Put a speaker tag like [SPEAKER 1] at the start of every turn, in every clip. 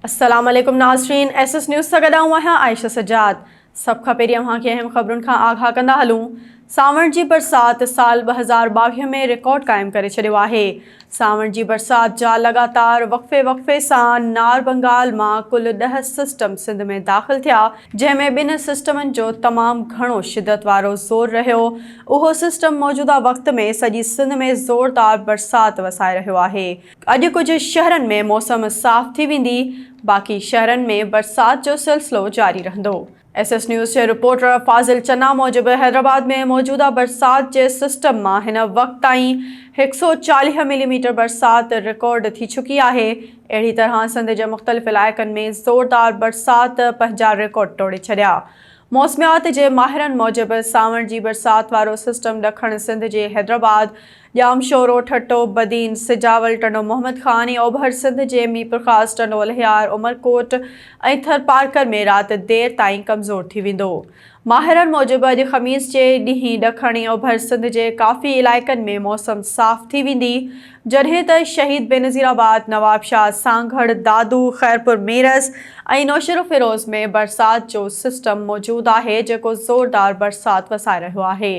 [SPEAKER 1] السلام عليڪم ناظرين ايس ايس نيوز سان گڏ آئون آهيان عائشه سجاد سڀ کان پهرين اوهان کي اهم خبرن کان آگاهه ڪندا هلون سانوڻ جي برسات سال ٻه هزار ٻاويهه ۾ رڪارڊ قائم ڪري ڇڏيو آهي سانوڻ جي برسات جا لڳاتار وقفي وقفي سان نار بنگال مان ڪل ڏهه سسٽم سنڌ ۾ داخل ٿيا جنهن ۾ ٻن سسٽمن جو تمام گهڻو شدت وارو زور رهيو اهو سسٽم موجوده وقت ۾ سڄي سنڌ ۾ زوردار برسات وسائي رهيو آهي اڄ ڪجهه شهرن ۾ موسم صاف ٿي ويندي، باقي شهرن ۾ برسات جو سلسلو جاري رهندو. ايس ايس نيوز جي رپورٽر فاضل چنا موجب حيدرآباد ۾ موجوده برسات جي سسٽم مان هن وقت تائين هڪ سؤ چاليهه ملي ميٽر برسات رڪارڊ ٿي چڪي آهي، اهڙي طرح سنڌ جي مختلف علائقن ۾ زوردار برسات پنهنجا رڪارڊ ٽوڙي ڇڏيا. موسميات جي ماهرن موجب سانوڻ جي برسات وارو سسٽم ڏکڻ سنڌ جي حيدرآباد، ڄام شورو، ٺٽو، بدين، سجاول، ٽنڊو محمد خان ۽ اوڀر سنڌ جي ميرپورخاص، ٽنڊو الهيار، عمرڪوٽ ۽ ٿرپارڪر ۾ رات دير تائين ڪمزور ٿي ويندو. ماهرن موجب اڄ خميس جي ڏينهن ڏکڻ ۽ اوڀر سنڌ جي ڪافي علائقن ۾ موسم صاف ٿي ويندي جڏهن ته شهيد بينظير آباد، نوابشاهه، سانگهڙ، دادو، خيرپور ميرس ۽ نوشهروفيروز ۾ برسات جو سسٽم موجود آهي جيڪو زوردار برسات وسائي رهيو آهي.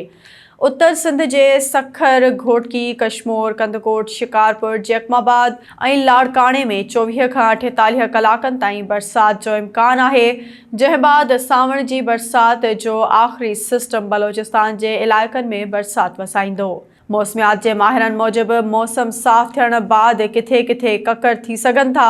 [SPEAKER 1] اتر سنڌ جي سکر، گهوٽڪي، ڪشمور، ڪنڌڪوٽ، شڪارپور، جيڪب آباد ۽ لاڙڪاڻي ۾ چوويهه کان اٺيتاليهه ڪلاڪن تائين برسات جو امڪان آهي، جنهن بعد سانوڻ جي برسات جو آخري سسٽم بلوچستان جي علائقن ۾ برسات وسائيندو. موسميات جي ماهرن موجب موسم صاف ٿيڻ بعد ڪٿي ڪٿي ڪڪر ٿي سگهن ٿا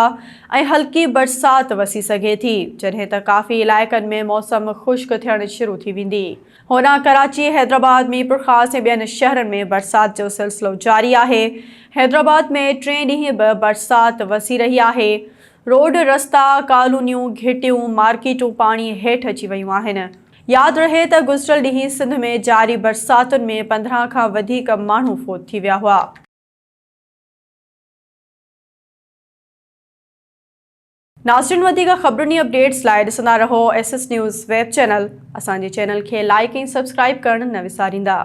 [SPEAKER 1] ۽ هلڪي برسات وسي سگهي ٿي، جڏهن ته ڪافي علائقن ۾ موسم خشڪ ٿيڻ شروع ٿي ويندي. هوڏانهن ڪراچي، حيدرآباد، ميرپورخاص ۽ ٻين شهرن ۾ برسات جو سلسلو جاري آهي. حيدرآباد ۾ ٽئين ڏينهن به برسات وسي رهي آهي. روڊ، رستا، ڪالونيون، گهٽيون، مارڪيٽون پاڻي هيٺ اچي ويون آهن. ياد رهي ته گذريل ڏينهن سنڌ ۾ جاري برساتن ۾ پندرهن کان وڌيڪ ماڻهو فوت ٿي ويا هئا. ناظرين وڌيڪ خبرن ۽ اپڊيٽس لاء ڏسندا رهو S S news web channel اسان جي چينل کي لائيڪ ۽ سبسڪرائيب ڪرڻ نه وساريندا.